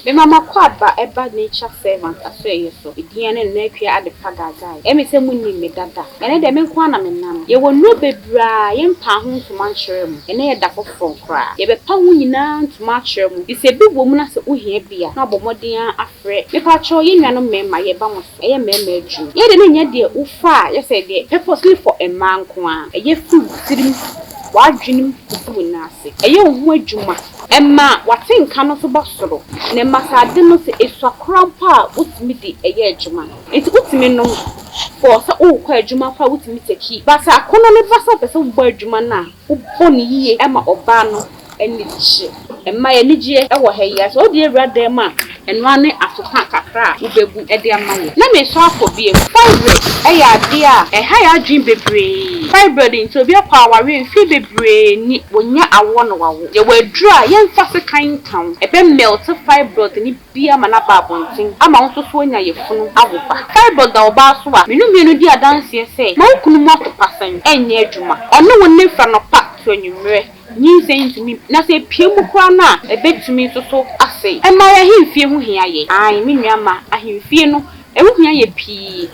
Me mama Kwadba ba nature servant Asoɛyɛ so Edian ne Nana Akua Adepa Gaagai ɛme sɛ mo nnim me dada ɛnɛ dɛ me nko ara na me nam yɛ wɔ nnuro bebree a yɛ mpaa ho ntoma nkyerɛ mo ɛnɛ yɛ da foforɔ koraa yɛ bɛ pa ho nyinaa ntoma akyerɛ mo fisɛ bi wɔ mu na sɛ wo hia bi a na ɔbɔ mmɔden ara afrɛ me pakyɛw yɛ nuanom mmarima yɛ ba mo so ɛyɛ mmarima adwuma yɛ dɛ na nya deɛ wo fa a yɛ sɛ deɛ purposely for mmaa nko ara ɛyɛ firi wo tirim w'adwenem kɔsi wo nan ase ɛyɛ wo ho adwuma. Ɛma w'atenka no so ba soro, na ɛma sɛ ade no sɛ esua koraa mpo a, wotumi de ɛyɛ adwuma. Enti wotumi nom for sɛ worekɔ adwuma mpo a wotumi take. But sɛ akɔnnɔ no ba sɛ wopɛ sɛ wobɔ adwuma no a, wobɔ no yiye ma ɔbaa no ani gye. Ɛma yɛn anigyeɛ wɔ ha yi ara. Sɛ wode awura dan mu a, Ɛnoa ne afepa kakra a wobɛbu de ama yɛ. Na meresɔ akɔ biom. Fibroid yɛ adeɛ a ɛha yɛ adwene bebree. Fibroid nti obi akɔ awareɛ mfeɛ bebree ni, wɔnya awoɔ na wawo. Yɛwɔ aduro a yɛmfa sekan nka ho, ɛbɛ melt fibroid no bi ama no aba abɔnten ama wo nso so woanya yafunu awo ba. Fibroid da ɔbaa so a, me no mmienu di adanseɛ sɛ, ma wo kunu mu afepa sɛn ɛnyɛ adwuma. Ɔne wo nna firi anɔpa to anwummerɛ. Nyinsɛn ntumi, na sɛ epue mu koraa no a, ebetumi nso so asɛe. Ɛnna ahemfie ho hia yɛn. Aane, me nua mma, ahemfie no, ɛho hia yɛn pii.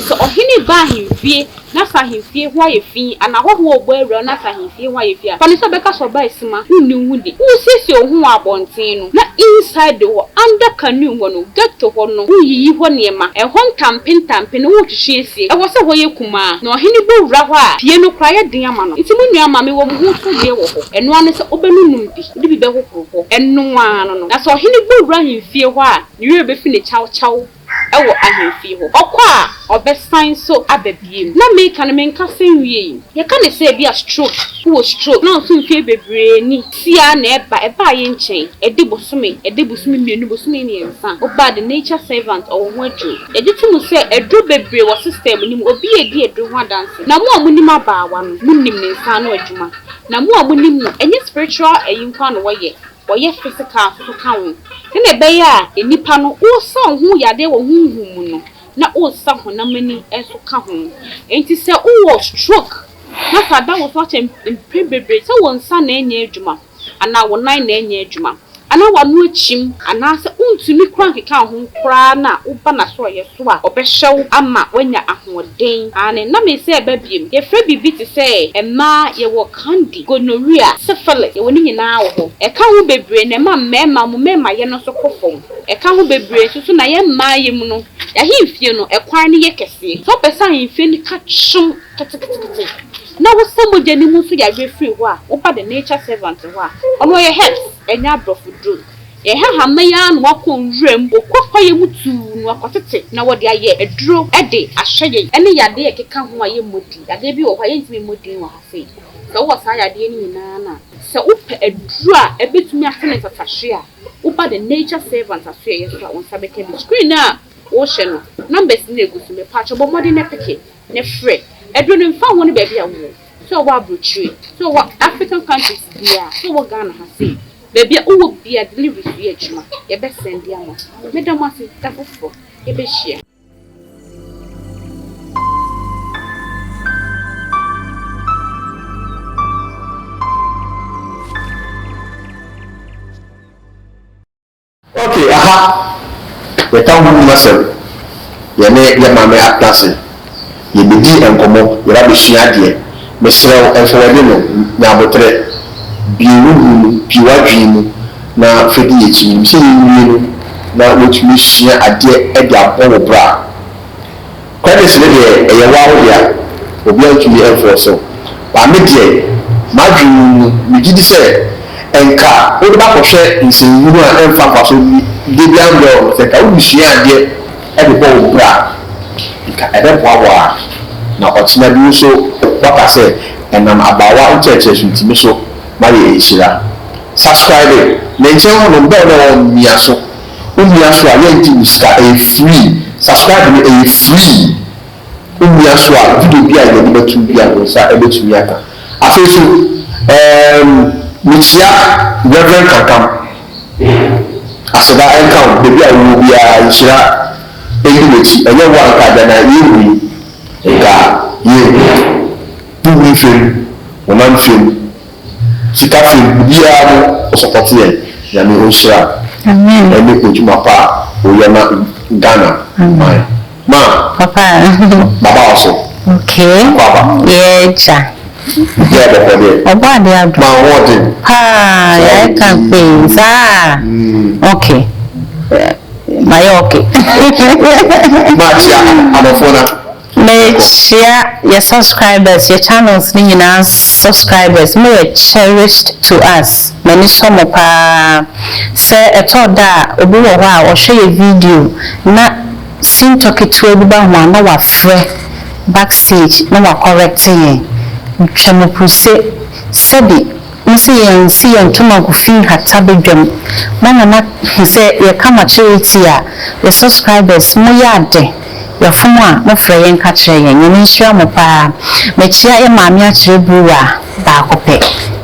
Sɛ ɔhene ba ahemfie na sɛ ahemfie hɔ ayɛ fi anaa ahɔho a wɔbɔ awura na sɛ ahemfie hɔ ayɛ fi a, fa no sɛ ɔbɛka sɛ ɔbaa simma, wonni wo ho di. Woresiesie wo ho wɔ abɔnten no, na inside hɔ, under canoe hɔ no, ghetto hɔ no, woreyiyi hɔ nneɛma, ɛhɔ ntampe ntampe no woretwetwe asie. Ɛwɔ sɛ hɔ yɛ kumaa, na ɔhene bɔ wura hɔ a, pie no koraa yɛ den ama no. Enti mo nua, ma mewɔ mo ho nsodwoeɛ wɔ hɔ. Ɛno ara ne sɛ, wobɛnonom bi, wode bi bɛhohoro hɔ, ɛno ara no no. Na sɛ ɔhene bɔ wura ahemfie hɔ a, ne werɛ bɛfi no kyawkyaw wɔ ahemfie hɔ. Ɔkɔ a, ɔbɛsan nso aba bio. Na meka no, menkasa nwiei. Yɛka no sɛ ebia stroke, wowɔ stroke, na nso mfeɛ bebree ni. Sia na ɛba, ɛbaa yɛn nkyɛn, ɛde bosome, ɛde bosome mmienu, bosome mmiɛnsa, ɔbaa the nature servant, ɔwɔ ho aduro. Yɛgye to mu sɛ aduro bebree wɔ system no mu, obi a edi aduro ho adanse, na mo a monim abaawa no, monim ne nsa ano adwuma, na mo a monim no, ɛnyɛ spiritual ayi nko ara na wɔyɛ, wɔyɛ physical nso so ka ho, sɛnea ɛbɛyɛ a nnipa no, wosa wo ho yadeɛ wɔ honhom mu no, na wosa honam ani nso ka ho. Enti sɛ wowɔ stroke, na sɛ ada wo so akyɛ mpɛn bebree sɛ wo nsa na ɛnyɛ adwuma anaa wo nan na ɛnyɛ adwuma anaa w'ano akyim anaasɛ wontumi koraa nkeka wo ho koraa na woba n'asorɔeɛ so a, ɔbɛhyɛ wo ama woanya ahoɔden. Aane, na me sɛ ɛba biom. Yɛfrɛ biribi te sɛ mmaa, yɛwɔ candy, gonorrhea, syphilis, yɛwɔ ne nyinaa wɔ hɔ. Ɛka ho bebree na ɛma mmarima, wɔn mmarimayɛ no nso kɔ fam. Ɛka ho bebree nso so na yɛn mmaayɛ mu no, yɛahemfie no, ɛkwan no yɛ kɛseɛ. Sɛ wopɛ sɛ ahemfie no ka kyom, ketekete na wosa mogya no mu nso yareɛ firi hɔ a, woba the nature servant hɔ a, ɔno ɔyɛ herbs, ɛnyɛ aborɔfo duro. Yɛhaha mma yi ara na wɔakɔ nwura mu, wɔkɔ kwaeɛ mu tuu na wɔakɔtete na wɔde ayɛ aduro de ahyɛ yɛn. Ɛne yadeɛ a ɛkeka ho a yɛmmɔ din. Yadeɛ bi wɔ hɔ a, yɛntumi mmɔ din wɔ ha sei. Sɛ wowɔ saa yadeɛ no nyinaa no a, sɛ wopɛ aduro a ɛbɛtumi asa ne ntatahweɛ a, woba the nature servant asoɛeɛ so a, wo nsa bɛka bi. Screen no a wohwɛ no, numbers no na ɛgu so. Mepaakyɛw bɔ mmɔden na peke. Ne frɛ. Aduro no mfa ho ne baabi a wowɔ. Sɛ wowɔ abrokyire, sɛ wowɔ African countries biaa, sɛ wowɔ Ghana ha sei, baabi a wowɔ biaa delivery so yɛ adwuma. Yɛbɛ sɛnde ama wo. Meda mo ase, da foforɔ yɛbɛhyia. Ok aha yɛka wo ho mu asɛm yɛne yɛ maame atena ase yɛbɛdi nkɔmmɔ yɛba abɛsua adeɛ mesrɛ wo mfa w'ani no nya aboterɛ bue wo ho mu bue w'adwene mu na fa di yɛakyi menim sɛ yɛnwie no na woatumi asua adeɛ de abɔ wo bra. Credits no deɛ ɛyɛ waa wo dea, obia ntumi ɛnfɔɔse wo, but me deɛ m'adwene mu no megye di sɛ nka wode bɛakɔhwɛ nsɛnhunu a ɛnfa mfasoɔ bi deɛ biara mbrɛ wo no, sɛ nka wode sua adeɛ de bɔ wo bra a nka ɛbɛboa wo ara na ɔkyena bi wo so woaka sɛ ɛnam abaawa nkyerɛkyerɛ so nti me so mayɛ nhyira. Subscribe me nkyɛn hɔnom bell no a ɛwɔ hɔ no mia so. Womia so a yɛngye wo sika ɛyɛ free subscribe no ɛyɛ free womia so a video bi a yɛde anim atum bi a wo nsa ɛbɛtumi aka afei nso ɛɛm mekyia Rev Kankam aseda ɛnka wo baabi a wowɔ biara nhyira ɛndi wakyi ɛnyɛ wo a nka agya na yɛnhui nka yɛnhui wo nhwɛm wonam nhwɛm Sika fam biribiara no wo support yɛn Nyame ɔnhyira Amen ɛne odwuma pa a woyɛ ma Ghana man ma Papa baba wo so Okay Akɔ aba yɛɛ gya Gya bɔkɔ deɛ Ɔbɔ adeɛ adom ma ahoɔden paa Yɛayɛ ka pee saa mm Okay mayɛ okay Makyia adɔfoɔ no a. Me hyia yɛ subscribers yɛ channels no nyinaa subscribers mo yɛ cherished to us m'ani sɔ mo paa sɛ ɛtɔ da a obi wɔ hɔ a ɔhwɛ yɛ video na sintɔ ketewa bi ba ho a na wafrɛ backstage na wa correct yɛn twa mo puse sɛbi Mo se yɛnsi yɛn ntoma gu fi nhata badwam na mama hu sɛ yɛka makyere etie a yɛ subscribers mo yɛ ade yɛfom a mo frɛ yɛn ka kyerɛ yɛn nyame nhyira mo paa mekyea yɛ maame akyerɛ bruwa baako pɛ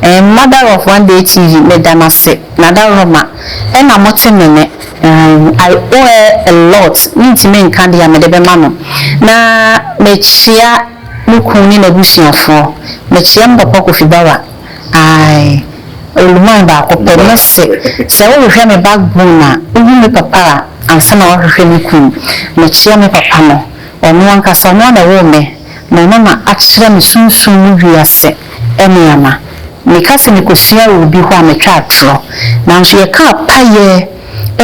ɛɛm mother of one day TV meda mo ase nadaroma ɛna mo te me nɛ ɛɛm I owe her a lot mentimi nka dea mede bɛma no na mekyea Me kun ne n'abusuafoɔ. Mekyea me papa Kofi Bawa ae Oluman baako pɛ ne se sɛ wohwehwɛ me backbone a wohu me papa a ansa na woahwehwɛ me kun. Mekyea me papa no ɔno ankasa ɔno ara na ɔwoo me na ɔno na akyerɛ me sunsum mu wiase nneɛma. Meka sɛ mekɔsuaa wɔ obi hɔ a metwa atorɔ nanso yɛkaa payɛ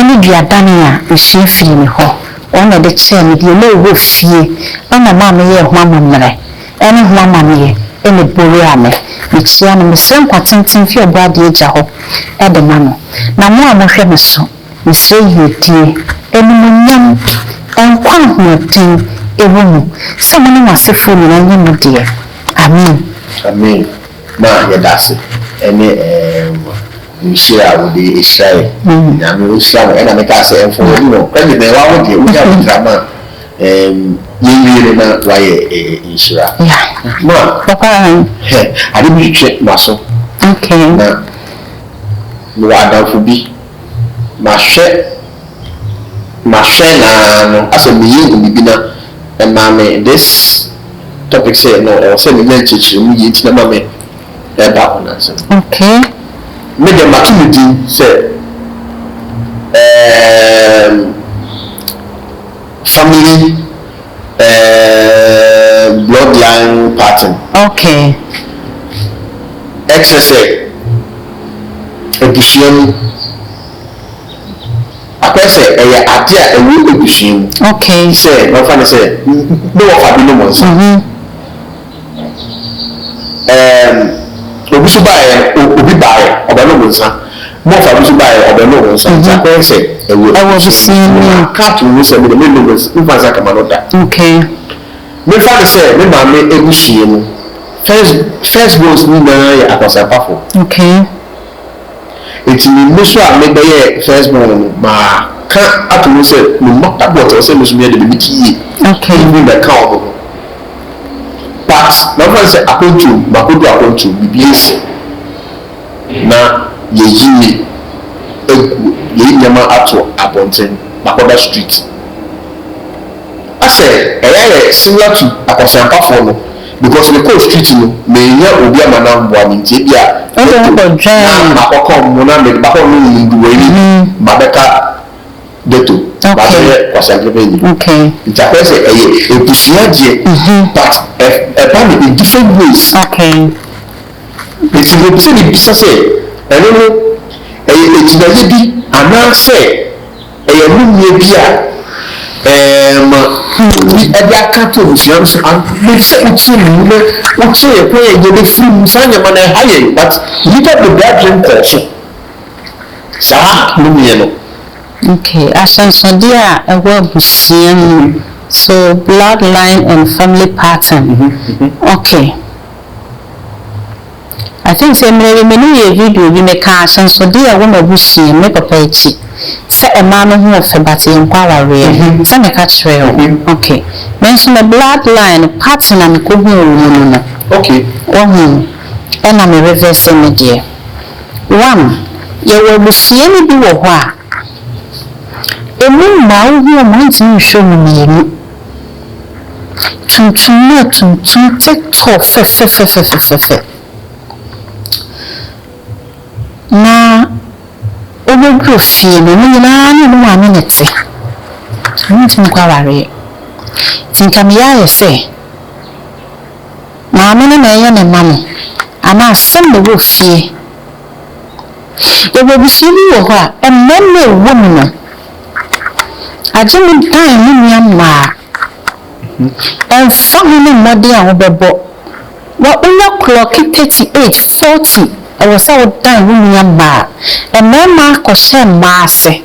ne duadane a mesua firii ne hɔ. Wɔn na ɛde kyɛɛ me deɛ na ɛwɔ fie, ɛna maa me yɛɛ ho amammerɛ, ɛne ho amanneɛ, ɛna ɛboreaa me. Mekyia no, mesrɛ nkwa tenten fi Ɔbɔadeɛ Agya hɔ de ma no. Na mo a mohwɛ me so, mesrɛ yiedie, animuonyam, nkwa a ahoɔden wɔ mu, sɛ mo ne mo asefoɔ nyinaa nyɛ mo deɛ. Amen. Amen. Na yɛda ase ɛne ɛɛm nhyira a wode ɛhyira yɛn Nyame ɔhyira mo ɛna mekaa sɛ ɛmfɔɔ w'ani hɔ credit no ɛwɔ wo deɛ wonya wo nkrama a ɛɛm yɛnwie no na wayɛ ɛɛ nhyira Ma Papa hɛ ade bi twetwe maso na mewɔ adamfo bi mahwɛ Mahwɛ no ara no asɛ meyɛ hu biribi na ɛmaa me this topic sɛ no ɛwɔ sɛ menya nkyerɛkyerɛ mu yie nti na ma me ɛreba ho nansa no. Okay. Me deɛ mato no din sɛ ɛɛm family ɛɛm bloodline pattern. Okay. Ɛkyerɛ sɛ abusua mu. Akɔyɛ sɛ ɛyɛ ade a ɛwɔ abusua mu. Okay. Te sɛ na ɔfa no sɛ ne wɔfa binom nsa. Mm-hmm. Ɛɛm, obi so baeɛ, obi baeɛ, ɔbɛnom nsa. Mɔfa bi so baeɛ, ɔbɛnom nsa. Mm-hmm. Nti akɔyɛ sɛ ɛwɔ abusua mu. Aka ato mu sɛ mede menom nsa, mefa nsa kama no da. Okay. Mefa no sɛ me maame abusua mu, first, first borns nyinaa yɛ akwansapafo. Okay. Enti me mmu so a mebɛyɛɛ first born no, maka ato mu sɛ me mma pa boɔ te hɔ sɛ me nso meyɛ dɛm, mete yie, mennuru mmɛka wɔn ho. But na wɔmfa no sɛ akwantuom, makɔdu akwantuom, biribi asi na yɛayi agu, yɛayi nneɛma ato abɔnten, makɔda street. Asɛ ɛyɛ ayɛ similar to akwaseampafoɔ no, Because me kɔɔ street no menya obi ama no amboa me nti ebia Ɔdze Dettol na akɔdware. makɔkɔ mo na mede makɔ nom nduwa yi mabɛka Dettol Okay. mabɛyɛ kwaseanklebenyi Okay. nti akɔyɛ sɛ ɛyɛ ebusua adeɛ but ɛ ɛba no in different ways Okay. nti mepɛ sɛ mibisa sɛ ɛno no ɛyɛ agyinayɛ bi anaasɛ. Ɛyɛ nnummeɛ bi a ɛma obi de aka ato abusua no so and maybe sɛ wotie me yi na wokyerɛ yɛn kwan a yɛbɛfiri mu. Saa nneɛma no ɛha yɛn but nnipa bebree adwene nkɔɔ so saa nnummeɛ no. Okay, ahyɛnsodeɛ a ɛwɔ abusua mu so blood line and family pattern okay. I think sɛ mmerɛ bi me ne wo yɛɛ video bi mekaa ahyɛnsodeɛ a ɛwɔ m'abusua mu me papa akyi sɛ mmaa no ho ɔfɛ but yɛnkɔ awareɛ sɛ meka kyerɛɛ wo ok me nso me blood line pattern a mekɔhuu wo mu no no wahu ɛna me reverse me deɛ one yɛwɔ abusua no bi wɔ hɔ a ɛmu mmaa wohu wɔn a wontumi nhwɛ wɔn mmienu. tuntum no yɛ tuntum tsetɔɔ fɛfɛfɛfɛfɛfɛ, na obodur fie no, ne nyina ara nye no maame na etse, so wonntum nnkɔ awaryɛ. Ntsi nka meyɛ ayɛ sɛ maame no na ɛyɛ ne mma no, anaa asɛm na ɔwɔ fie. Yɛwɔ ebusua bi wɔ hɔ a, mmarima a wɔwɔ mu no. Agye me dan me nua mmaa. Ɛmfa ho ne mmɔden a wobɛbɔ, wa wonya klɔke thirty eight, forty ɛwɔ sɛ wo dan wo nua mmaa. Mmarima kɔhyɛ mmaa ase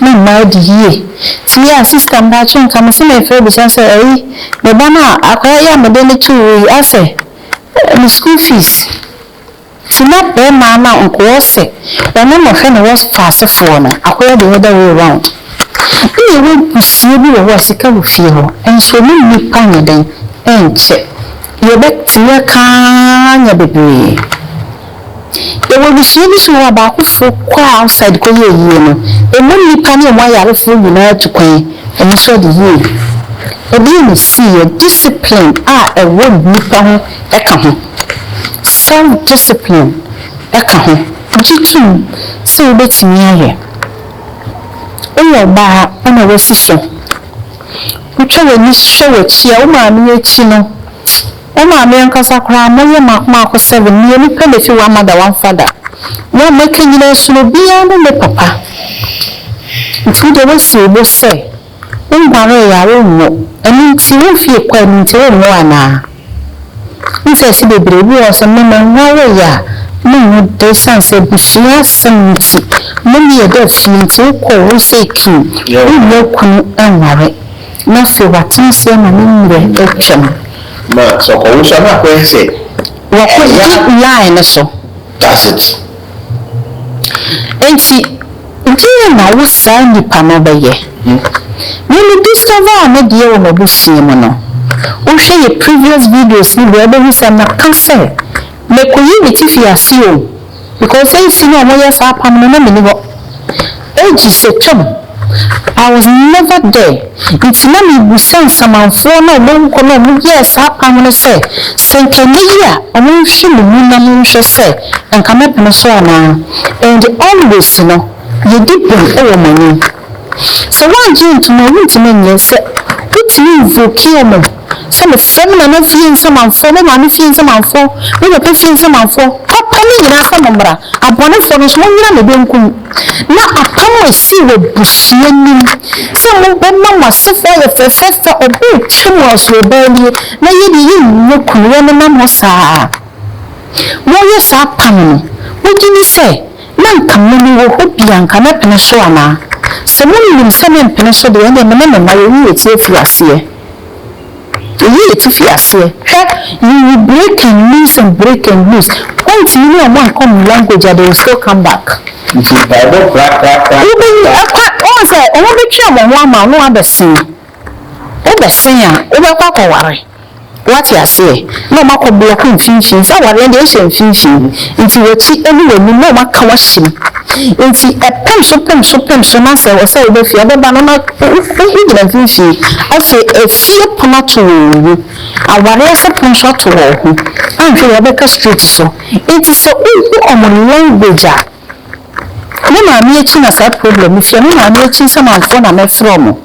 ma mmaa di yie. Tie a sista mpakyɛw nka me se me frɛ bisa sɛ ɛyi me ba no a akwadaa yi a mede no too wo yi asɛ ne school fees. Nti na bɛɛma no nkowɔ sɛ wɔne no hwɛ no wɔ faase foɔ no akɔyɛ the other way round. Bi yɛwɔ abusua bi wɔ hɔ a sika wɔ fie hɔ nso ɔne nnipa nyɛ dɛn nkyɛ deɛ ɔbɛtumi aka ara nya bebree. Yɛwɔ abusua bi nso wɔ hɔ a baako foɔ kɔ outside kɔ yɛ ayie no ɛma nnipa ne ɔmo ayarefoɔ nyinaa tu kwan ɔmo nso adi yie. Ɛdeɛn na ɛsiiɛ? Discipline a ɛwɔ nnipa ho ka ho. Self-discipline ka ho. Gye tom sɛ wobɛtumi ayɛ. Woyɛ ɔbaa a, woma w'asi so. Wotwa w'ani hwɛ w'akyi a, wo maame akyi no, wo maame ankasa koraa, moyɛ mako mako seven, mmienu pɛ na ɛfi one mother, one father. Mo a moaka nyinaa su no, obiara ne ne papa. Nti wodeɛ woasi wo bo sɛ. Wonwaree a wonnwo, ɛno nti womfie kwae mu nti wonnwo anaa? Mfiase bebree bi wɔ hɔ sɛ mmɛ menwaree a monnwo da esiane sɛ abusua asɛm nti, mo ne yɛ da fie nti wokɔ wo sɛ king wonnya kunu nware na afei w'atena ase ama ne mmerɛ atwam. Na sɛ ɔkɔwo nso a na akɔyɛ sɛ ɛya. Wɔkɔdi line no so. That's it. Enti deɛn na wo saa nipa no bɛyɛ? Me me discover ne deɛ wɔ m'abusua mu no, wo hwɛ yɛ previous videos no deɛ wobɛhu sɛ meka sɛ mɛkɔyi me tifi ase o because seisei na wɔyɛ saa apam no na menni hɔ. Age sɛ twam, I was never there, nti na mebisa nsamanfoɔ no a wɔn awu kɔ no a wɔn yɛɛ saa apam no sɛ, sɛ nka ɛnyɛ yie a wɔn nhwɛ me mu na mo nhwɛ sɛ nka mɛ pene so anaa, and always no yɛ di bem wɔ mo anim. Sɛ wɔn angye antom a wontumi nyɛ, sɛ wotumi invokee wɔn. Sɛ me frɛ me nana fie nsamanfoɔ, me maame fie nsamanfoɔ, me papa fie nsamanfoɔ, papa no nyinaa sɛ mo mmra, abɔnefoɔ no nso mo nyina me benkum. Na apam a ɛsii wɔ abusua nim sɛ mo bɛma mo asefoɔ ayɛ fɛfɛɛfɛ, ɔbɔ retwa mu asuo baa nie, na yɛ deɛ yɛ nnya kunu, yɛ nenam hɔ saa a mo yɛ saa apam no, mo gye ni sɛ na nka me me wɔ hɔ bi a nka mɛpene so anaa? Sɛ mo nim sɛ me mpene so deɛ, ɛnneɛ me ne me mma yɛ wu yɛ ti afiaseɛ. Eyi yɛ ti fi aseɛ. Hwɛ, yiyi break and loose and break and loose. Point yi ne ɔmo ankɔ ɔmo language a they will still come back. Nti mpaebɔ korakorakora. Wobeyi ɛkwa wohu sɛ ɔmo betwe ɔmo ho ama wo na wabɛsen. Wobɛsen a wobɛkɔ akɔware. Wate aseɛ? na wɔn akɔ blɔk mfimfini, sɛ awareɛ no deɛ ɛnhyɛ mfimfini, nti w'akyi ne w'anim na wɔn aka w'ahyɛ mu, nti ɛpem so pem so pem so na sɛ ɛwɔ sɛ wobɛ fie a wobɛba no na wogyina mfimfini, afei efie pono ato wɔn mu, awareɛ sɛ pono nso ato wɔn ho, anhwɛ yie a wobɛka street so, nti sɛ wohu wɔn language a. Me maame akyi na saa problem no fie. Me maame akyi nsamanfoɔ na mɛfrɛ ɔmo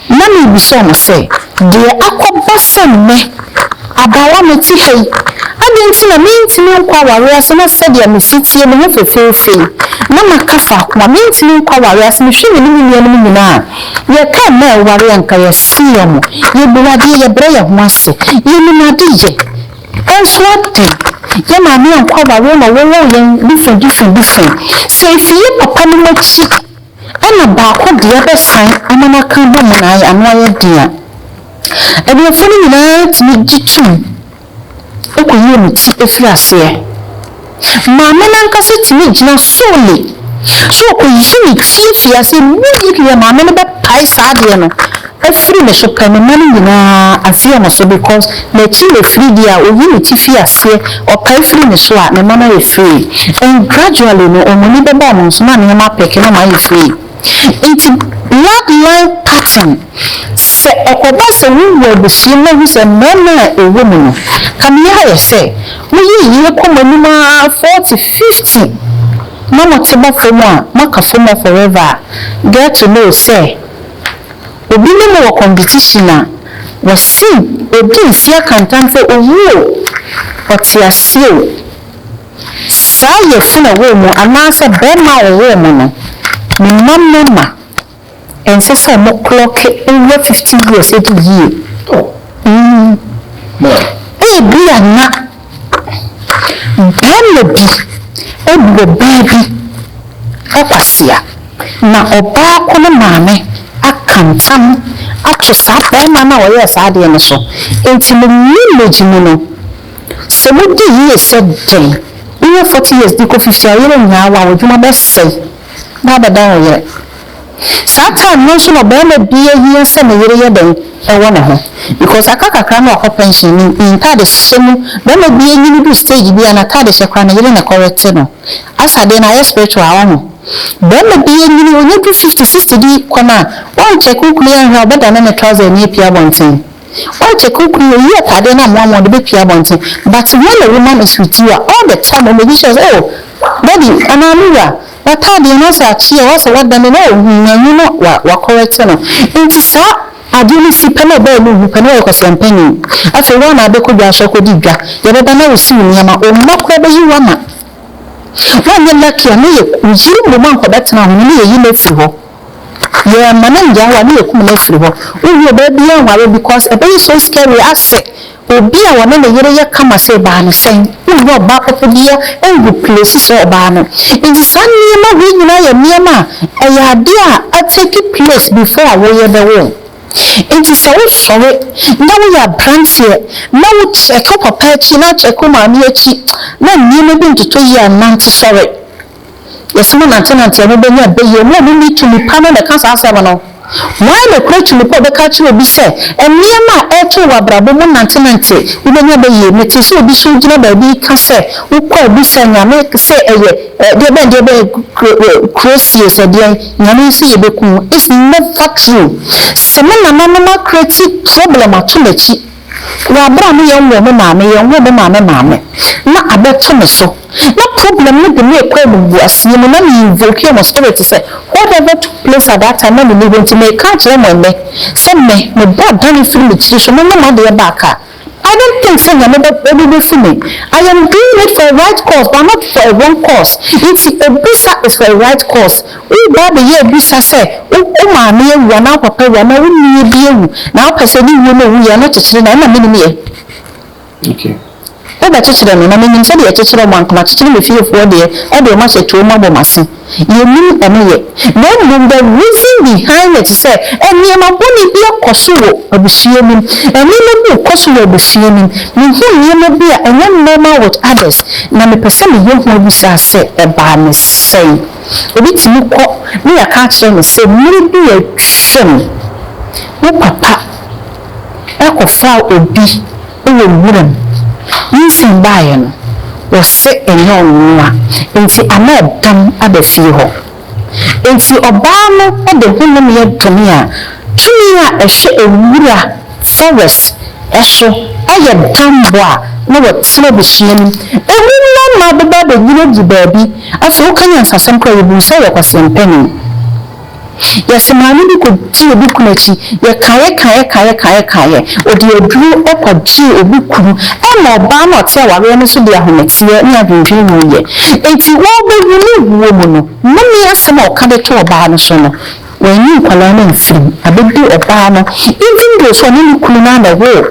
na mebisa ɔmo sɛ, deɛ akɔba sɛ nnɛ abaawa mete ha yi, adɛn nti na mentumi nkɔ awareɛ ase na sɛdeɛ me setie, me ho fefeefe yi na maka faako a mentumi nkɔ awareɛ ase. Mehwɛ me ne me nuanom nyinaa a, yɛka mmaa a ɛware a nka yɛsee ɔmo, yɛbu adeɛ, yɛbrɛ yɛn ho ase, yɛnim ade yɛ. Nso ade, yɛn maame anko aware na wɔwoo yɛn dufɛn dufɛn dufɛn. Sɛ efi yɛn papanom akyi na baako deɛ bɛsan ama no aka abom ma no ano ayɛ den a, aburofoɔ no nyinaa tumi gye tom kɔyi wɔn ti firi aseɛ. Maame no ankasa tumi gyina solely sɛ ɔkɔyi ne ti firi aseɛ no mu yie kɛkɛ, maame no bɛpae saa adeɛ no afiri ne so pɛ, ne mma no nyinaa aseɛ na so because n'akyi na ɛfiri deɛ a ɔyi ne ti firi aseɛ, ɔpae firi ne so a, ne mma no ayɛ free and gradually no wɔn ani bɛba wɔn so na nneɛma apɛke na wɔayɛ free. Nti blood line pattern sɛ ɛkɔba sɛ wo wu abusua mu ahu sɛ mmarima a ɛwɔ mu no kame ayɛ sɛ mo yɛ yie kɔ mo anim aa forty fifty na mo te ba fam a mo aka fam hɔ forever a get to know sɛ obi ne mo wɔ competition a wɔ se ɔdi nse aka ntam sɛ ɔwu o ɔte aseɛ o. Saa yafunu a ɛwɔ wo mu anaasɛ barima a ɔwoo mo no, ne mma mmarima, ɛnsɛ sɛ wɔklɔke owura fifty years adi yie. Ebia na barima bi abu ɔbaa bi kwasea, na ɔbaa ko no maame aka ntam ato saa barima no a ɔyɛɛ saa adeɛ no so. Enti, mo marriage mu no, Sɛ mudi yiye sɛ dɛn benya forty years de kɔ fifty a ɔyere nnya awo a w'adwuma bɛsɛe na abɛdan wo yere. Saa time no nso na ɔbarima bi ahia sɛ ne yere yɛ dɛn wɔ ne ho because aka kakra na wakɔ pension ne ne ntade hyɛ mu barima bi anyini du stage bi a n'atade hyɛ koraa ne yere na ɛkɔrete no as adeɛ no ayɛ spiritual ɔho barima bi anyini ɔnya du fifty sixty bi kɔ no a wɔn check wo kunu yi anhwɛ a ɔbɛdane ne trouser ani apue abɔnten. Why Kyeku Kwi oyi ataadeɛ no amoa ma ɔde bɛpie abɔnten but when a woman is with you a all the time ɔ make sure sɛ oh daddy anaa me wura w'ataadeɛ no asɛ akyeɛ o asɛ w'adane no oh hum manhu no wa wa correct no nti saa adeɛ no si pɛ na ɔbaa mu hu pɛ na wayɛ kwasia mpanin afei wo a na abɛkɔ dwa so akɔdi dwa yɛbɛba na wo si wo nneɛma o mma koraa bɛyi wo ama woanyɛ lucky a na yɛ yiri mmom a nkɔbɛtena ho no na yɛyi no afiri hɔ. Yɛma no ngyaa wo a na yɛkum no afiri hɔ. Wowie ɔbaa biaa nware because ɛbɛyɛ so scary asɛ obi a ɔne ne yere yɛ kama sɛ baa no sɛn. Wonni ɔbaa papa biaa ngu place sɛ ɔbaa no. Nti saa nneɛma wei nyinaa yɛ nneɛma a ɛyɛ adeɛ a a take place before a woyɛ bɛwo. Nti sɛ wo sɔre na woyɛ abranteɛ na wo check wo papa akyi na wo check wo maame akyi na nneɛma bi nntotɔ yie a nante sɔre. Yesu mu nantenante a mubenya beye mo a munni tumi pa no na ɛka saa asɛm no. Hwan na okura tumi pa a ɔbɛka akyerɛ obi sɛ, Nneɛma a ɛreto wo wɔ abrabɔ mu nantenante, wubenya beye? Mete sɛ obi sɔre gyina baabi reka sɛ, Wokɔ a bisa Nyame sɛ ɛyɛ deɛbɛn deɛbɛn kuro sie sɛ deɛn, Nyame nso yɛ bɛku wo. It's never true. Sɛ me nananom akrati problem ato m'akyi. Wɔ aber a me yɛ nwoo me maame, yɛnwoo me maame maame, na abɛtɔ me so, na problem no de me rekɔ emumguaseyɛ mu, na me invokeɛ mo spirit sɛ, whatever took place at that time na menni hɔ nti, mereka akyerɛ mo ɛnnɛ sɛ me, me bo adane firi me tsiri so, monyɛ m'adeɛ back a, I don't think sɛ Nyame bɛ, obebefu me. I am doing it for a right cause but not for a wrong cause, nti obisa is for a right cause. Wo Bible yɛ abisa sɛ, Wo wo maame awu anaa wo papa awu anaa wo nua bi awu na wopɛ sɛ ne wuo no a ɔwuiɛ no kyekyere no a, ɛma menim yɛ. Wobɛkyekyere no, na menim sɛdeɛ yɛkyekyere wɔn a nka makyekyere me fiefoɔ deɛ, ɛde wɔn ahyɛ tuo mu abɔ m'ase. Yɛnim ɛno yɛ. Na mmom the reason behind it sɛ nneɛma bɔne bi akɔ so wɔ abusua no mu. Nneɛma bi rekɔ so wɔ abusua no mu. Mehu nneɛma bi a ɛnyɛ normal with others, na mepɛ sɛ meyɛ ho abisa sɛ ɛbaa no sɛn. Obi tumi kɔ na yɛaka akyerɛ no sɛ mmere bi atwam wo papa kɔfaa obi wɔ nwuram. Nyinsɛn baeɛ no, wɔse ɛnyɛ ɔno noa, enti ana ɛdam aba fie hɔ. Enti ɔbaa no de honomeɛ domee a tumi a ɛhwɛ nwura Forest so yɛ dambo a na wɔte abusua no mu. Emu mmarima bɛba abɛnyina gu baabi. Afei woka nyansasɛm koraa a, yɛhunu sɛ ɔyɛ kwaseɛm panin. Yɛse maame bi kɔdii obi kunu akyi, yɛkaeɛ kaeɛ kaeɛ kaeɛ kaeɛ, ɔde aduro kɔgyee obi kunu ma ɔbaa no a ɔte awareɛ no so de ahometeɛ ne adwendwene wuiɛ. Enti wɔrebɛwu no wuo mu no, nnome asɛm a ɔka de too ɔbaa no so no, Wɔanyi nkwadaa no amfiri mu abɛdi ɔbaa no even though sɛ ɔne ne kunu no ara na ɛwoo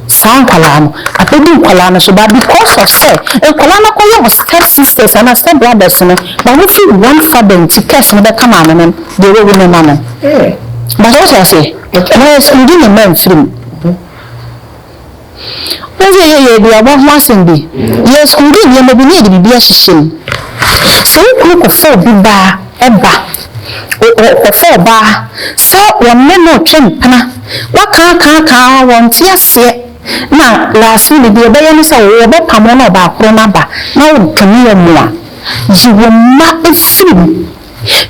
saa nkwadaa no, abɛdi nkwadaa no so but because of sɛ nkwadaa no akɔyɛ wɔ step sisters anaa step brothers no ma wɔfiri one father nti curse no bɛka maame no deɛ wawu no ma no. Mpakyɛ wote aseɛ? Wɔanyi ne mma amfiri mu. Wohu sɛ yɛyɛ aduaba ho asɛm bi, yɛakunkum nneɛma bi na yɛde biribi ahyehyɛ mu. Sɛ wo kunu kɔfa obi baa, ɛba, ɔkɔfa ɔbaa sɛ wɔne no retwe mpena, wɔakaakaakaa ara, wɔnte aseɛ, na last minute deɛ ɛbɛyɛ ne sɛ wɔbɛpamo no ɔbaakoro no aba na wodome wɔn a, gye wo mma firi mu.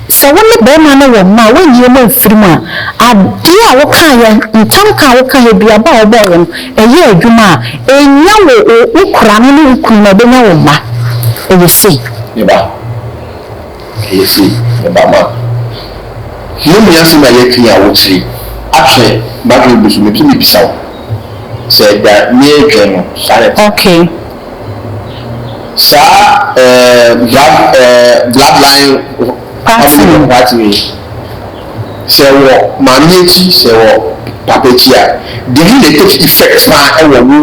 Sɛ wo ne barima no wɔ mma a wonnye mo mfiri mu a, adeɛ a wokaeɛ, ntamka a wokaeɛ, aduaba a wobɔeɛ no, ɛyɛɛ adwuma a, ɛnnya wo, wo koraa no ne wo kunu na ɔbɛnya wo mma. Ɛyɛ sei. Me ba, ɛyɛ sei. Me ba, ma yɛmmua asɛm a yɛaka yi a wokyere ahwɛ. M'adwene bu so, mepɛ sɛ mebisa wo. sɛ da meedwen no sare te. Ok. Saa eh blood eh bloodline family of what wei sɛ wɔ maame akyi sɛ wɔ papa akyi a dini na ɛtake effect paa ɛwɔ wo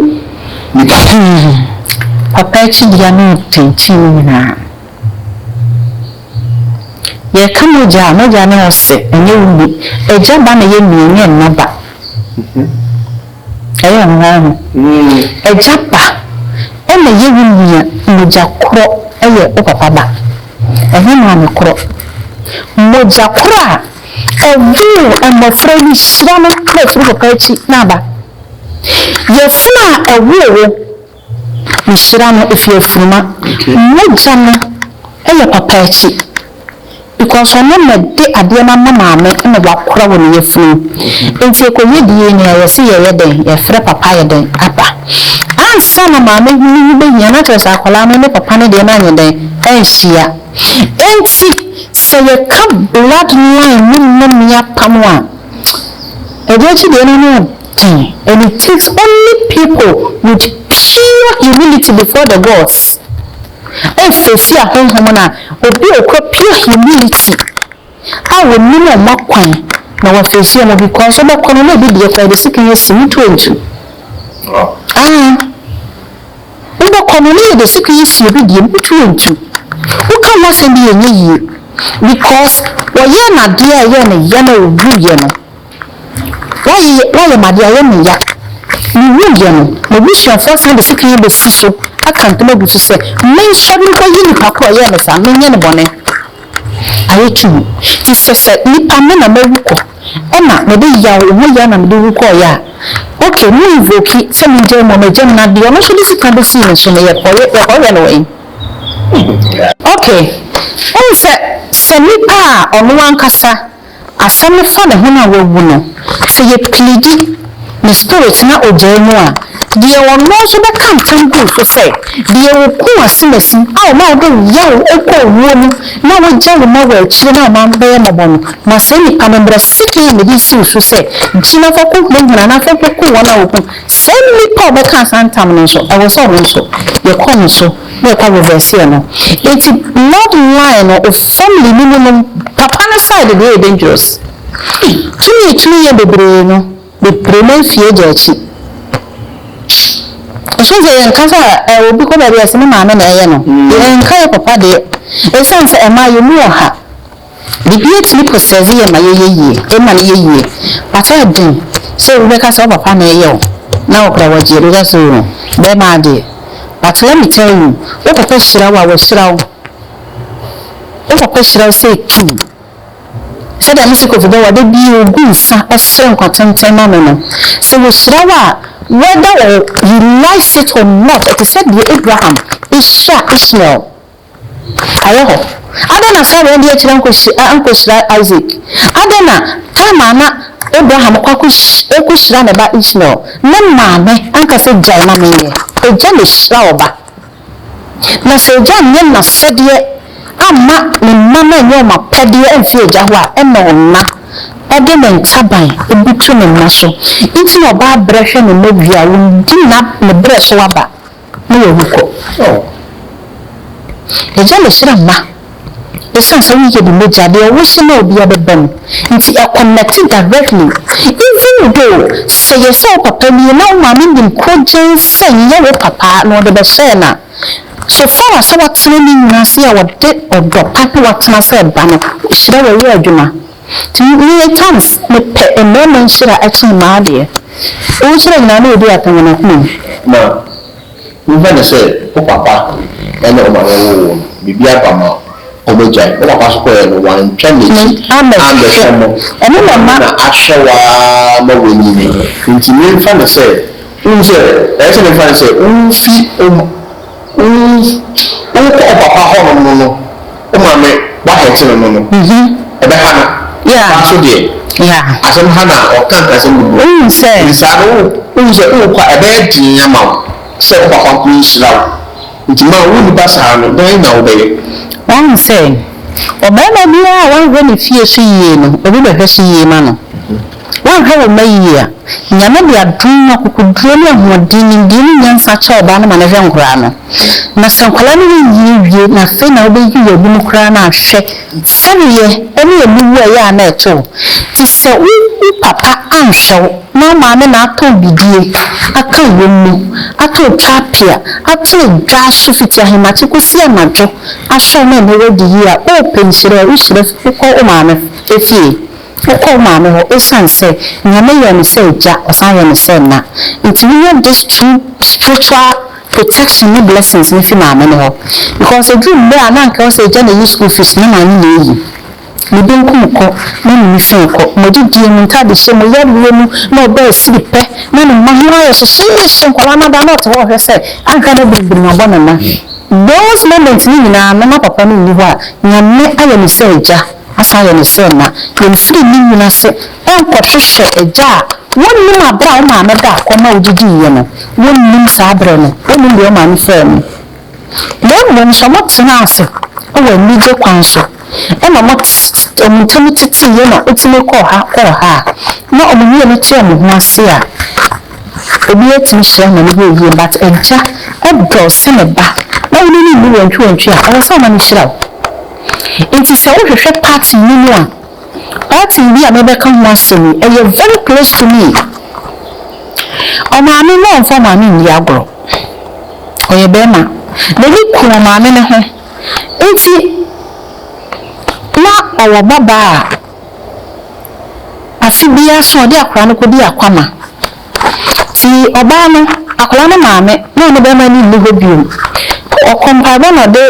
nipa. Hmm papa akyi deɛ no ntɛnkyii no nyinaa. Yɛka mogya a, mogya ne ose, ɛnyɛ wo ni. Agya ba na ɛyɛ ni, ɛnyɛ ɛna ba. Ɛyɛ hɔnho. Agya ba na ɛyɛ wo nua, mogya korɔ yɛ wo papa ba, ɛnyɛ maame korɔ. Mogya korɔ a ɛwoo mmɔfra yi hyira no na ɛfiri papa akyi na aba. Yafunu a ɛwoo wo. Nhyira no ɛfiri afuruma. Mogya no yɛ papa akyi because ɔno na ɛde adeɛ no ama maame na wakora wɔ ne yafunu mu nti ɛkɔyɛ DNA a yɛse yɛyɛ dɛn yɛfrɛ papa ayɛ dɛn aba ansa na maame no ho bɛhia no akyerɛ sɛ akwadaa no ne papa no deɛ no anyɛ dɛn anhyia nti sɛ yɛka blood line ne mmamia apam a ɛde akyi deɛ no ne And it takes only people with pure humility before the gods ɛfesi ahonhom no a obi a ɔkura pure humility a ɔnim wɔn akwan na wafesi wɔn because wobɛkɔ no na obi deɛ kɔ yɛde sekan asi mu to ntu ah wobɛkɔ no na yɛde sekan asi obi deɛ mu to ntu woka ho asɛm bi yɛ nyɛ yie because wɔyɛ no adeɛ a ɛyɛ no yɛ na ɔwuiɛ no Woayɛ me ade, ayɛ me ya. Miwuiɛ no, m'abusuafoɔ asan de sekan abɛsi so aka ntam agu so sɛ mensɔre nkɔyi nnipa ko a ɔyɛɛ me saa, menyɛ no bɔne. Ayɛ tuu. Nti sɛ sɛ nnipa me na mawu kɔ, ɛna mede yaw, wo ho yaw na mede wu kɔeɛ a, ok, mo invoke sɛ mengyae mu a, magyae mu, na deɛ ɔno nso de sekan bɛsii me so no, yɛkɔyɛ no wɛn? Ok, wohu sɛ, sɛ nnipa a ɔno ankasa Asɛm no fa ne ho no a wawu no, sɛ yɛ plidi ne spirit na ogyae mu a, deɛ ɔno nso bɛka ntam gu so sɛ, deɛ ɔkuu asimasi a ɔma wode wo yaw kɔ owuo mu na wagya wo ma wɔ akyire no a ɔma bɛyɛ mmɔbɔ no, ma saa nipa no mmra sekan a mede resi wo so sɛ gyina fa kɔ hunahuna anaa fa kɔ ku wɔn a wɔku saa nipa a ɔbɛkaa saa ntam no nso ɛwɔ sɛ ɔno nso yɛkɔ ne so. na ɔkɔ reverse yɛ no enti blood line no wo family no mu nom papa no side deɛ yɛ dangerous tumi etumi yɛ bebree no bebree no efi agya akyi ɛhyɛ sɛ yɛn kasa ɛwɔ obi kɔ baabi a ɛsɛ me maame na ɛyɛ no yɛn nka yɛ papa deɛ ɛsan sɛ ɛmaa yɛ mu wɔ ha. Biribi atumi kɔ sɛ dze yɛ ma yɛyɛ yie, ema no yɛ yie, but ɔyɛ den sɛ obi bɛka sɛ wo papa na ɛyɛ wo na wo koraa wɔgye adi, wobɛka sɛ oo bɛɛma adeɛ, but let me tell you, wo papa hyira wo a, wahyira wo, wo papa hyira wo sɛ etum, sɛdeɛ mese Kofi Bawuah da biara ogu nsa ɔsrɛ nkwa tenten ma no no, sɛ wɔhyira wo a, whether you like it or not, ɛte sɛ deɛ Abraham hyira Ishmael. Awɔ hɔ. Adɛn na Sarai de akyiri ankohyira Isak? Adɛn na Tamar ma Abraham kɔ akohyira ne ba Ismael? Ne maame ankasa gyae ma menyɛ. Agya na ehyira ɔba. Na sɛ agya anyɛ n'asɛdeɛ amma ne mma no anyɛ wɔn apɛdeɛ amfi agya hɔ a, ɛnna ɔna de ne ntaban butu ne mma so. Enti na ɔbaa brɛ hwɛ ne mma wie a, wɔdi ne berɛ so aba. Ne yɛ wu kɔ oh. Agya na hyira mma ɛsiane sɛ woyɛ bi mogya deɛ wo hye na obiara bɛba mu nti ɛ connect directly even though sɛ yɛ sɛ wo papa nie na wo maame nim kogyɛn sɛ nyɛ wo papa na ɔde bɛhyɛɛ no a so far as sɛ watena ne nwunu ase a ɔde ɔdɔ pa na watena sɛ ba no hyira wɔ yɛ adwuma. Nti meyɛ times mepɛ mmarima nhyira kyɛn mmaa deɛ. Wo nhyira nyinaa na ɔdi apɛ wɔ n'akoma mu. Na wohwɛ no sɛ wo papa ne wo maame woo wo no, biribi aba ma wɔagyae. Wo papa nso kɔeɛ no, wantwa n'akyi ammɛhwɛ mo. Ɔno na ahwɛ wo ara ma woanyin. Nti memfa no sɛ, wohu sɛ, ɛyɛ sɛ memfa no sɛ wofi wo. Wo wo kɔ wo papa hɔ nom no no wo maame wa hɛte no no no ɛbɛ ha no paa so deɛ asɛm ha na ɔka nkrasɛm gugu hɔ nti saa no wo wohu sɛ wo kɔ a ɛbɛ yɛ den ama wo sɛ wo papa nko nhyira wo nti ma wo nipa saa no dɛn na wo bɛ yɛ. Wahu sɛ ɔbarima biara a wanhwɛ ne fie so yie no obi bɛ hwɛ so yie ma no. Woanhwɛ wo mma yiye a, Nyame de adom ne akokoduro ne ahoɔden, nimdeɛ ne nyansa akyɛ ɔbaa no ma no hwɛ nkwadaa no. Na sɛ nkwadaa no renyin nwie na afei na wobɛyi wo agu mu koraa no a, hwɛ sɛdeɛ ɛne aniwuo a ɛyɛ a na ɛte wo. Te sɛ wo wo papa anhwɛ wo na wo maame na atɔ wo bidie, aka w'wom mu, atɔ wo twapea, ate wo dwa so fiti ahemakye kɔsi anadwo ahwɛ wo ma ɛnɛ woadi yie a, oopɛ nhyira a, wohyira fi kɔ wo maame fie. Wokɔɔ Maame hɔ esiane sɛ Nyame yɛɛ no sɛ Agya, ɔsan yɛɛ no sɛ Ɛna. Nti wonya this two spiritual protection ne blessings no fi Maame no hɔ. Because ɛduru mmerɛ a na anka ɛwɔ sɛ Agya na ɛyi school fees no, na Maame na ɛyi. Ne benkum kɔ, na ne nifa kɔ. Mo adidie, mo ntaadehyɛ, mo yareɛ mu, na ɔba asiri pɛ, na ne mma ho ayɛ hyehyeehye, nkwadaa no ada na ɔte hɔ ɔhwɛ sɛ anka na biribiri abɔ ne nan. Those moments no nyinaa na na Papa no nni hɔ a, Nyame ayɛ no sɛ Agya. Asan yɛ no sɛ na yɛmfiri ne nwunu ase nkɔhwehwɛ agya a wonnim aberɛ a wo maame da akɔ ma wodidiiɛ no, wonnim saa berɛ no, wonnim deɛ wo maame faa mu. Na mmom sɛ wɔtenaa ase wɔ anigye kwan so na wɔn ntam teteeɛ na ɛtumi kɔɔ ha kɔɔ ha a, na wɔn mmienu te wɔn ho ase a, obiara tumi hyira ma no yɛ yie. But agya dɔ sɛ ne ba, na wo ne no nni wantwiwantwi a, ɛwɔ sɛ ɔma no hyira wo. Nti sɛ wo hwehwɛ party no mu a, party bi a me bɛka ho asɛm yi ɛyɛ very close to me. Ɔmaame no ɔnfa ɔmaame nni agorɔ, ɔyɛ bɛɛma, nani ku ɔmaame no ho, nti na ɔwɔ ba baa a afe biaa so ɔde akora no kɔdi akwama, Tii ɔbaa no, akwadaa no maame, na ne barima no nni hɔ bio. Ɔkɔ mpaebɔ na ɔde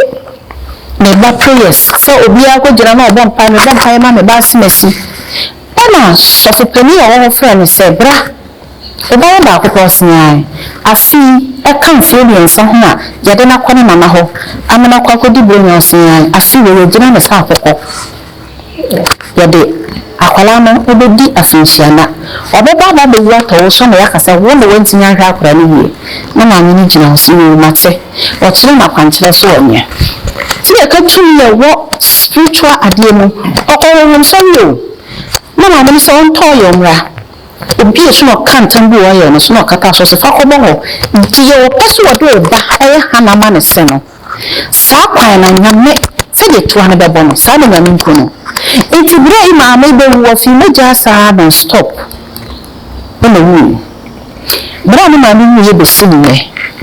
ne ba prayers sɛ obiara kɔgyina na ɔbɔ mpaeɛ, mebɔ mpaeɛ ma me ba asemasi. Ɛna sɔfo panin a ɔwɔ hɔ frɛɛ no sɛ, Bra, wo ba yɛ baako pɛ ɔsene ara. Afei ɛka mfeɛ mmiɛnsa ho a yɛde no akɔ ne mama hɔ ama no akɔ akɔdi Buronya ɔsene ara. Afei wei, wɔgyina no sɛ akɔkɔ. yɛde akwadaa no bɛdi afenhyia na ɔbɛba aba abɛwu atɔ wo so na yɛaka sɛ wo na woantumi anhwɛ akwadaa no yie na maame no gyina hɔ sɛ yoo mate, ɔkyerɛ no akwankyerɛ so ɔ nyɛ. Nti yɛka tumi a ɛwɔ spiritual adeɛ mu, ɔkɔ honhom sɔre oo, na maame no sɛ ɔntɔɔ yɛ ɔmmra, obi a so na ɔka ntam bi wɔ yɛ no so na ɔkata so sɛ fa kɔbɔ hɔ, nti yɛwɔ pɛ sɛ wɔde wo ba yɛ Hannah ma ne se no. Saa kwan na Nyame, sɛdeɛ toa no bɛbɔ no, saa na Nyame nku no. Nti berɛ a yi maame bɛwu, ɔfii mogyaa saa non stop na owuiɛ. Berɛ a ne maame wuiɛ bɛsi ne nnɛ,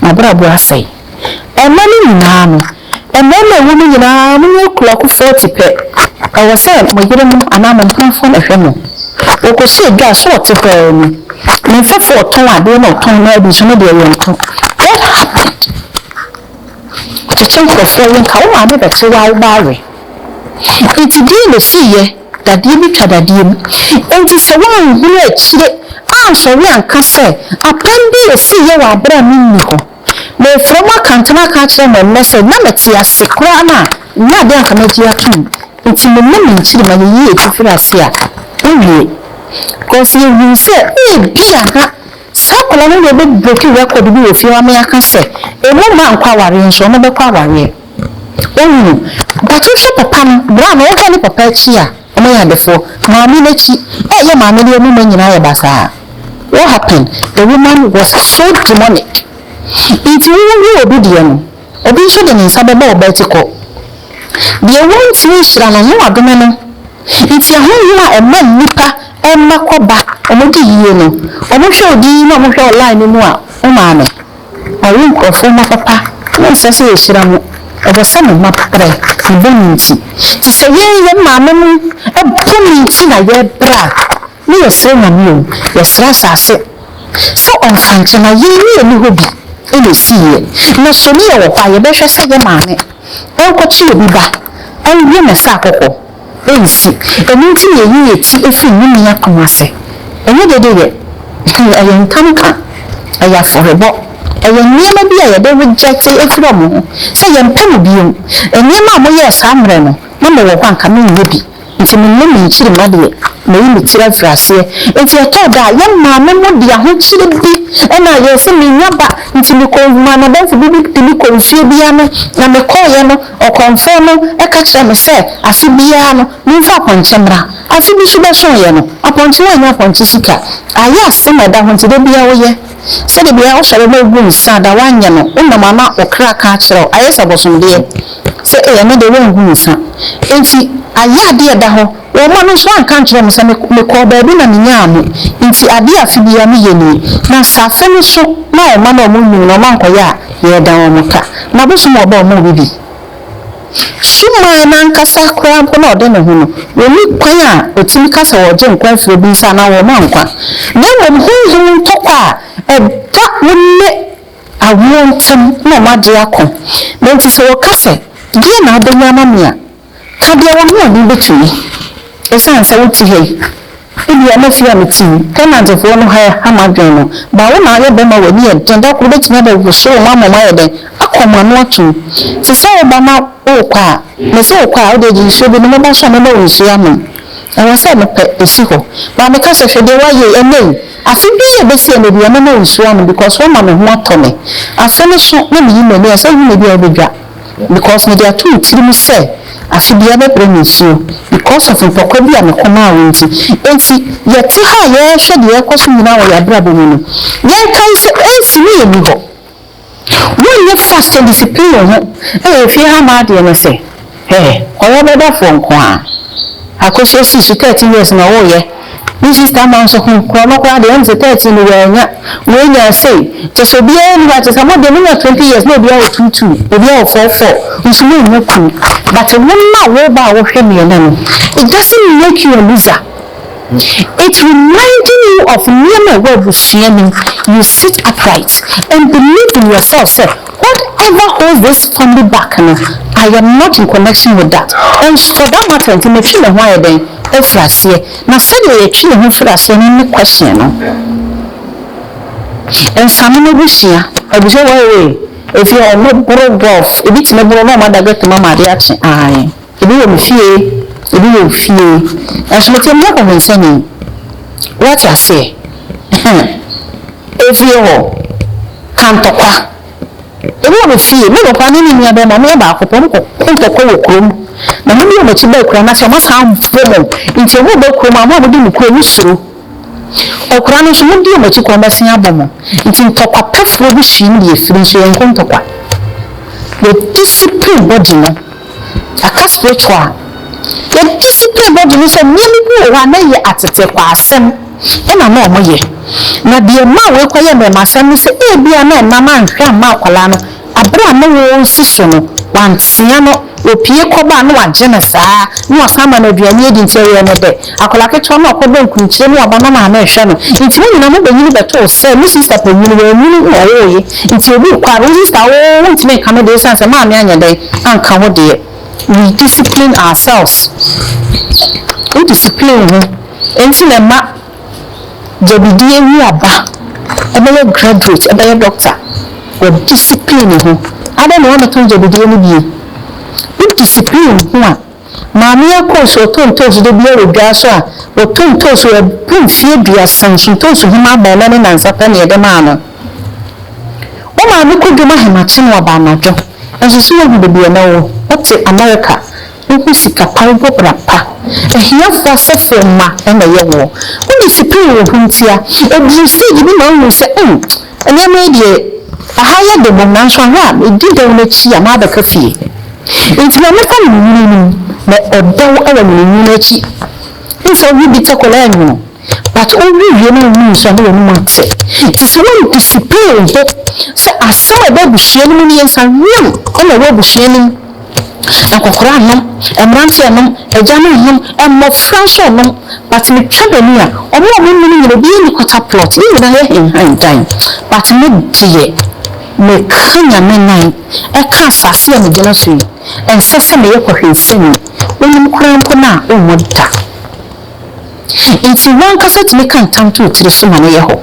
n'abrabɔ asɛe. Ɛnnɛ no nyinaa no, mmarima a ɛwɔ mu nyinaa, wɔn mu akuaku 40 pɛ, ɛwɔ sɛ mo yerenom anaa mo mpamfoɔ na ɛhwɛ mo. Wɔkɔsi adwa a, so ɔte hɔ ara ni? Ne mfɛfoɔ ɔtɔn adeɛ na ɔtɔn na adi so, ne deɛ yɛntɔ. What happened? Ɔkyekye nkorɔfoɔ yɛ nka wo maame bɛkye wo a wo ba awe nti deɛn na ɔsiiyɛ dadeɛ bi twa dadeɛ mu nti sɛ woanhunu akyire ansɔre anka sɛ apam bi ɛsiiyɛ wɔ aberɛ a me nni hɔ mefrɛ mo akantena aka akyerɛ mo ɛnnɛ sɛ na mete ase koraa no a nyɛ adeɛ anka magye atom nti me ne me nkyirima yɛyi yɛti firi ase a wowie cos yɛhunu sɛ ebia ha Saa akwadaa no deɛ bɛ breaki record bi wɔ fie hɔ a me aka sɛ ɔmmu mma nkɔ awareɛ nso ɔmɔ bɛkɔ awareɛ wahunu but wo hwɛ papa no bra no wo hwɛ ne papa akyi a ɔmɔ yɛ adefoɔ maame no akyi ɛɛ yɛ maame deɛ ɔmɔ mma nyinaa yɛ basaa what happened the woman was so demonic nti wo hu obi deɛ no. Obi nso de ne nsa bɛbɔ wo bɛti kɔ. Deɛ wɔntumi nhyira no ne wɔadome no. Nti ahonhom a ɛma nnipa mma kɔ ba wɔn di yie no, wɔn hwɛ wo din na wɔn hwɛ wo line no mu a wo maame. Wɔawo nkurɔfoɔ mma papa na ɛnsɛ sɛ yɛhyira mo. Ɛwɔ sɛ mo mma brɛ mo bɔne nti. Nti sɛ yɛn yɛn maame nom ɛbɔ ne nti na yɛbrɛ a. Ne yɛsrɛ Nyame o, yɛsrɛ asase sɛ ɔmfa nkyɛ na yei ne yɛni hɔ bi na ɛsiiɛ na so ne yɛwɔ hɔ a yɛbɛhwɛ sɛ yɛ maame nkɔkye obi ba nwie na sɛ akɔkɔ nsi ɛno nti na yɛyi yɛ ti firi ne nua akoma ase ɛnyɛ dede yɛ hwɛ ɛyɛ ntam ka ɛyɛ afɔrebɔ ɛyɛ nneɛma bi a yɛde rejecte afiri ɔmo ho sɛ yɛmpɛ mo bio nneɛma a moyɛɛ saa mmerɛ no na mewɔ hɔ a nka menyɛ bi. Nti menyɛ me nkyirimma deɛ meyi me tiri afiri aseɛ. Nti ɛtɔɔ da a yɛn maame mo de ahokyere bi na ayɛɛ sɛ menya ba nti me kɔ maa m'adamfo bi de me kɔ nfie bi ano na me kɔɔeɛ no ɔkɔmfoɔ no ka kyerɛɛ me sɛ afe biara no menfa apɔnkye mmra afe bi so bɛsooeɛ no apɔnkye wanyɛ apɔnkye sika ayɛ asem a ɛda ho nti da biara woyɛ sɛ da biara wo sɔre na wo bu nsa da woanyɛ no wo nam ama wo kra ka akyerɛ wo ayɛ sɛ abɔsomdeɛ sɛ ei ɛnɛ deɛ woangu nsa nti ayɛ adeɛ ɛda hɔ wɔn mma no nso anka nkyerɛ mo sɛ me kɔɔ baabi na me nyaa mo nti adeɛ afe biara me yɛ nie na sɛ afe no so na wɔn mma no wɔn nwunu na wɔn ankɔyɛ a yɛda wɔn ka na bosom wɔ ba wɔn bibi. Suman no ankasa koraa mpo na ɔde ne ho no, wonni kwan a otumi ka sɛ wɔregye nkwa afi obi nsa anaa wɔrema nkwa, na mmom honhom ntɔkwa a ɛda wo ne awoɔ ntam na wɔagye ako. Na enti sɛ wɔka sɛ, Deɛn na wobɛnya ama me a? ka deɛ wo ne ɔno bɛtumi, ɛsiane sɛ wote ha yi. Ebia na fie a mete mu, tenantfoɔ no ha ha m'adwene no. Baa wo na woayɛ bɛrima a w'ani yɛ den, da koro bɛtumi abɛwoso wo ma moma ayɛ dɛn? Akɔ mo ano atom. Te sɛ wo ba na worekɔ a, mese wo kɔ a, wodeɛ gye nsuo bi nom, woba nso a mɛma wo nsuo anom. Ɛwɔ sɛ mepɛ ɛsi hɔ. Baa meka sɛ, hwɛ deɛ woayɛ yi, ɛnnɛ yi, afe bi a ɛbɛsi ɛnnɛ biara mɛma wo nsuo anom because woama me ho atɔ me. Afe no so na meyi m'ani a, sɛ wohunu me bi a wobɛdwa. Because mede ato me tirim sɛ afe biara bɛbrɛ me nsuo because of mpɔkwa bi a me kɔm awo nti. Enti yɛte ha a yɛrehwɛ deɛ ɛrekɔ so nyinaa wɔ yɛn abrabɔ mu no, yɛnkae sɛ AC no yɛ nihɔ. Wonyɛ fast ndiscipline wo ho wɔ efie ha ma adeɛ no sɛ, Hɛ, kɔyɛ ɔbɛdafoɔ nko ara. Akosua sii so 13 years na ɔwoyɛ. Me sister man so hum korɔ no koraa deɛ ɛyɛ me sɛ thirteen no wannya wei nyaa sei kyɛ sɛ obiara ni hɔ a kyɛ sɛ mo deɛ monya twenty years na obiara wɔ two two obiara wɔ four four nso mo nnya kunu but wo na wo ba a wo hwɛ mmiɛnɛ no it doesn't make you a loser it reminding you of nneɛma ɛwɔ abusua nim you sit upright and believe in yourself sɛ whatever holds this family back no I am not in connection with that and for that matter nti metwi me ho ayɛ dɛn. firi aseɛ na sɛdeɛ yɛtwe yɛn ho firi aseɛ no ne question no nsane no ho sua abusua wɔ away ɛfiri hɔ ɔmo boro gulf ebi tumi boro na ɔmo ada gate mu ama adeɛ akye ae ebi wɔ me fie ebi wɔ wo fie nanso me tɛm nyɛ kɔhwensani wate aseɛ ɛfiri hɔ kantɔkwa Ebi wɔ me fie, me papa ne me nua bɛrima, wɔyɛ baako pɛ, wɔkɔ ko ntɔkwa wɔ kuro mu, na wɔn de wɔn akyi ba akuraa no ase, wɔasan abɔ mu, nti wɔn reba kurom a, wɔn a wɔdi mo kuro no suro. Akuraa no nso, wɔn di wɔn akyi kɔ, wɔbɛsan abɔ mu, nti ntɔkwa pɛfoɔ bi hyia mu de afiri, nso yɛnkɔ ntɔkwa. Yɛ discipline body no. Yɛaka spiritual a, yɛn discipline body no sɛ nneɛma bi wɔ hɔ a na ɛyɛ ateteekwasɛm na na wɔyɛ. Na deɛ ɛmaa wɔkɔyɛ mmɛmasɛm ne sɛ ebia na ɛma na anhwɛ amma akwadaa no berɛ a na wɔresi so no wɔantea no, ɔpue kɔba a na wɔagye no saa ara na wɔasan ama no aduane adi nti ɛyɛɛ no dɛ. Akwadaa ketewa no a ɔkɔbɔ nkurukyire ne ɔba na maame rehwɛ no nti mo nyinaa mobɛnyini bɛtoo sɛ mo sista panyin no wanyini na ɔwoeɛ nti obi rekɔ a wo sista a wowoo wontumi nka no deɛ ɛsiane sɛ maame anyɛ dɛn anka wo deɛ we discipline ourselves wo discipline wo ho nti na ɛma gyabidi awu aba ɛbɛyɛ graduate ɛbɛyɛ doctor wɔ discipline ho adɛn na woamɛtɔn gyabidie no bio wo discipline wo ho a Maame a ɔkɔɔ so ɔtɔ ntoosi da biara wɔ dwa so a ɔtɔ ntoosi wɔ ɛboro mfeɛ aduasa nso ntoosi homa abaa ɛnɛ ne nansa pɛ na yɛde maa no. Wo maame kɔdwom ahemakye na waba anadwo. Ɛnso so woahu baabi a na ɔwɔ? Wote Amerika. Wohu sika pa, wobɔ bra pa. Ahiafoɔ asɔfoɔ mma na ɛyɛ woɔ. Wode sipire wɔ ho ntia. Ɛduru stage bi na wohu sɛ, mm, Nneɛma yi deɛ, ɛha yɛ den mmom, nanso ahwɛ a medi dɛw no akyi a mabɛka fie. Enti ma mefa nwini nnom, na ɔdɛw wɔ nwini no akyi. Wohu sɛ wowe bitter kola a nwono, but wowe wie no a wohu nsu a na w'anom ate. Te sɛ woantisipee wo ho sɛ asɛm a ɛba abusua no mu no yɛ nsa hweam na ɛwɔ abusua no mu. Nkɔkora nnom, mmranteɛ nnom, agyanom nnom, mmɔfra nso nnom but me twa bani a ɔmo a ɔmo nnom nyina obiara nni quarter plot yɛ nyina yɛ henhan dan but me deɛ me ka nyame nan ɛka asase a me gyina so yi ɛnsɛ sɛ me yɛ kɔhwensani wonim koraa mpo no a ɔmmɔ da. Enti w'ankasa tumi ka ntam to wo tiri so ma no yɛ hɔ.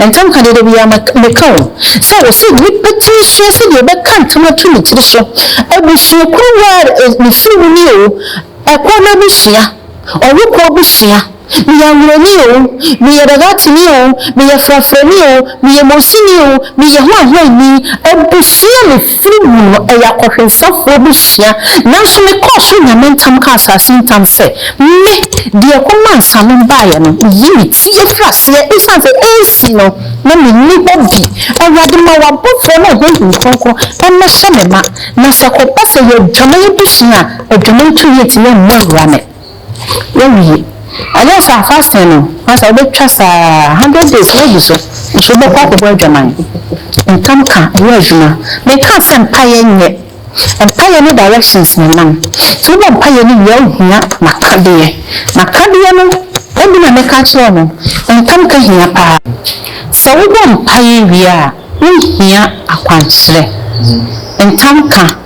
Ntam ka deɛ, da biara meka o, sɛ wɔse nnipa tumi sua sɛdeɛ ɔbɛka ntam ato ne tiri so. Abusuakuo bi a me firi mu nie o, ɛkɔ no abusua, ɔwokoɔ abusua, meyɛ Anwulani o, meyɛ Dagatini o, meyɛ Frafrani o, meyɛ Mosini o, meyɛ Hoahoani, abusua me. Firi mu no, ɛyɛ akɔhwɛnsafoɔ bi sua, nanso mekɔɔ so nya me ntam kaa asase ntam sɛ, Me, deɛ ɛkɔmaa nsanom baeɛ no, meyi me ti firi aseɛ, ɛsiane sɛ ɛnsi no, na menni hɔ bi. Awurade, ma w'abɔfoɔ ne wo Honhom Kronkron mmɛhyɛ me ma, na sɛ ɛkɔba sɛ yɛyɛ adwaman bi sua a, adwaman tumi ntumi mmu awura me. Wowie a, ɛnyɛ saa fasting no, na sɛ wobɛtwa saa hundred days no agu so, nso wobɛkɔ akɔbɔ adwaman. Ntam ka nyɛ adwuma. Menkaa sɛ mpaeɛ nyɛ. Mpaeɛ ne directions na ɛnam. Nti wobɔ mpaeɛ no wie a, wohia m'akadeɛ. M'akadeɛ no bi na mɛka akyerɛ mo. Ntam ka hia paa. Sɛ wobɔ mpaeɛ wie a, wohia akwankyerɛ. Ntam ka.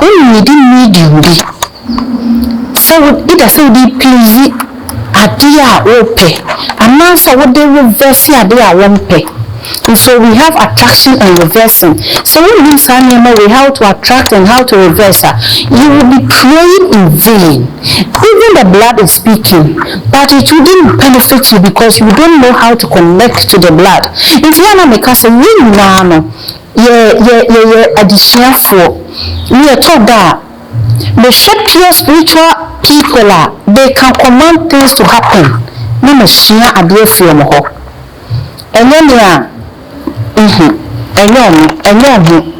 Wo na mede medium bi sɛ wo either sɛ wode please adeɛ a wopɛ anaasɛ wode reverse adeɛ a wompɛ nso we have attraction and reversing sɛ wonnim saa nneɛma wei how to attract and how to reverse a you will be praying in vain even the blood is speaking but it wouldn't benefit you because you don't know how to connect to the blood nti yɛ a na meka sɛ yɛn nyinaa no Yɛ, yɛ, yɛyɛ adesuafoɔ, ne ɛtɔ da a, mehwɛ pure spiritual people a, they can command things to happen, ne masua adeɛ afiri wɔn hɔ. Ɛnyɛ me a, nhu, ɛnyɛ wɔn, ɛnyɛ wɔn ho.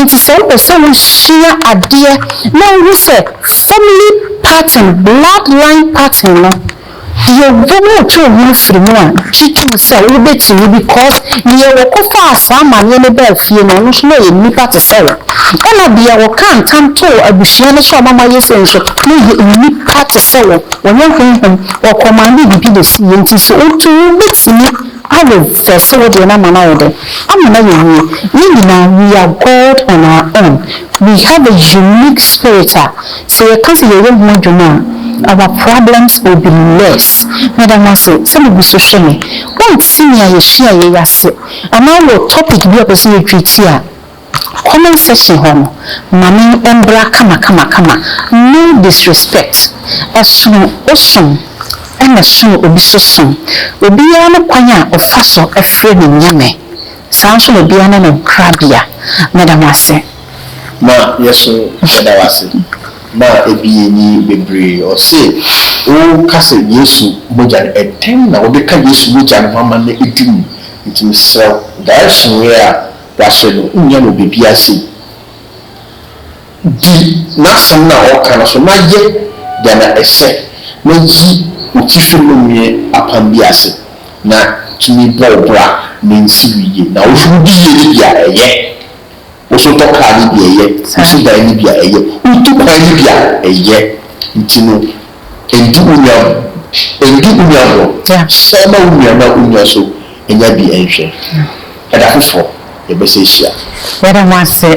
Nti sɛ wopɛ sɛ wosua adeɛ na wohu sɛ family pattern, blood line pattern no, Yɛbom twoo ho firi mu a gye tom sɛ wobɛtumi because deɛ wɔkɔfaa saa amaneɛ no baa fie no ɔno nso na ɔyɛ nnipa te sɛ wo ɛna deɛ wɔkaa ntam too abusua no sɛ ɔmama yɛ sei nso na ɔyɛ nnipa te sɛ wo ɔnyɛ honhom wɔkɔmande biribi na ɛsiiɛ nti sɛ wotu wobɛtumi arevɛse wo deɛ no ama no ayɛ dɛn ama no ayɛ yie yɛn nyinaa we are God on our own we have a unique spirit a Sɛ yɛka sɛ yɛyɛ ho adwuma a, our problems will be less. Meda mo ase sɛ mugu so hwɛ me. Wonte nea yehyiaeɛ yi ase anaa wowɔ topic bi a wopɛ sɛ yɛ treati a, comment section hɔ no, ma me mbra kama kama kama. No disrespect. Ɛsono wo som ɛna ɛsono obi so som. Obiara ne kwan a ɔfa so frɛ ne Nyame. Saa nso na obiara ne ne nkrabea. Meda mo ase. Ma yɛ so yɛda wo ase ma ɛbie ni bebree ɔse wo ka sɛ yesu mogya no ɛdɛn na wo beka yesu mogya no ho ama no adi mu nti me serɛ wo direction wei a wahyɛ no wo nya no wɔ bebia sei di nasɛm no a ɔka no so na yɛ deɛ na ɛsɛ na yi wo tifi no nwe apam bi ase na tumi bɔ wo bra na nsi wo yie na wo so wo di yie no bi a ɛyɛ. Woso tɔ kaa no bi a, ɛyɛ. Woso dan no bi a, ɛyɛ. Wotu kwan no bi a, ɛyɛ. Nti no, ndi wo nua ndi wo nua agorɔ. San ma wo nua na wo nua nso nya bi nhwɛ. Ɛda foforɔ, yɛbɛsan ahyia. Yɛda mo ase